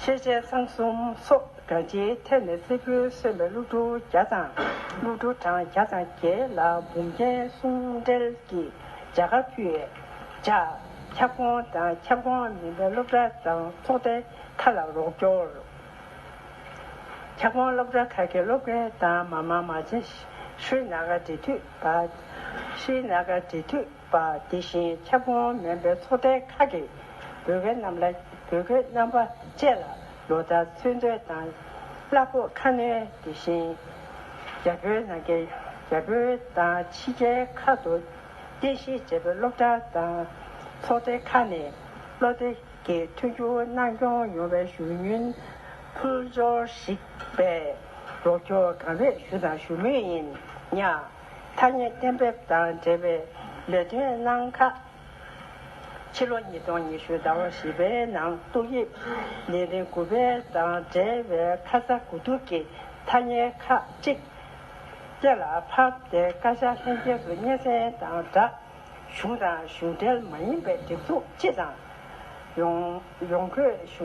ཤེས་བྱའི་གསང་གསུམ་སོགས་སྒྲ་སྤྱིའི་ཐད་ནས་བསེར་བུས་གསོན་པའི་གླུ་བྲོ་བརྒྱ་དང་གླུ་བྲོ་གྲངས་བརྒྱ་དང་བརྒྱད་ལ་འབུམ་ཐན་གསུམ་འབྲེལ་གྱི་བྱ་དགའ་ཕུལ། བྱ། ཁྱབ་ཁོངས་དང་ཁྱབ་ཁོངས་མིན་པའི་སློབ་གྲྭ་དང་ཚོགས་སྡེ་མཐའ་ལ་རོགས་སྐྱོར། ཁྱབ་ཁོངས་སློབ་གྲྭ་ཁག་གི་སློབ་དགེ་དང་མ་མ་མ་བྱེད། ཤྲཱི་ནཱ་ག་འབྲེལ་མཐུད་པ། Srinagar འབྲེལ་མཐུད། པ་དེ་བཞིན་ཁྱབ་ཁོངས་མེན་པའི་ཚོ་ཐལ་ཁག་གི་བོད་སྐད་རྣམས་ལ་བོད་སྐད་རྣམ་པ་བཅས་ལ་ལོ་ལྟར་ཚོན་མཛོད་དང་གླ་ཕོགས་ཁ་སྣོན་དེ་བཞིན་རྒྱ་བོད་ནང་གི་རྒྱ་བོད་དང་ཕྱི་རྒྱལ་ཁག་ཏུ་རྟེན་གཞི་བྱས་པའི་སློབ་གྲྭ་དང་ཚོགས་སྡེ་ཁག་ནས་བློ་བདེ་གི་མཐུན་འགྱུར་གནང་སྐྱོང་ཡོང་བའི་ཞུ་སྙུན་ཕུལ་འབྱོར་ཞིག་པས་རོགས་སྐྱོར་གང་ལེགས་ཞུ་དང་ཞུ་མུས་ཡིན། ཐ་སྙད་གཏན་འབེབས་དང་འབྲེལ་བའི་ལས་དོན་གནང་ཁག་ཕྱི་ལོ་ཉིས་སྟོང་ཉི་ཤུ་ཟླ་བ་བཞི་པའི་ནང་ཏོག་དབྱིབས་ནད་རིམས་དགུ་པའི་དང་འབྲེལ་བའི་ཁ་ཚ་དགོས་གཏུགས་ཀྱི་ཐ་སྙད་ཁག་ཅིག་གཏན་ལ་ཕབ་སྟེ་བཀའ་ཤག་ལྷན་རྒྱས་སུ་སྙན་སེང་དང་སྦྲགས་གཞུང་དང་གཞུང་འབྲེལ་མ་ཡིན་པའི་སྒྲིག་འཛུགས་སྤྱི་དང་ཡོངས་ཡོངས་སྒོས་ཞུ།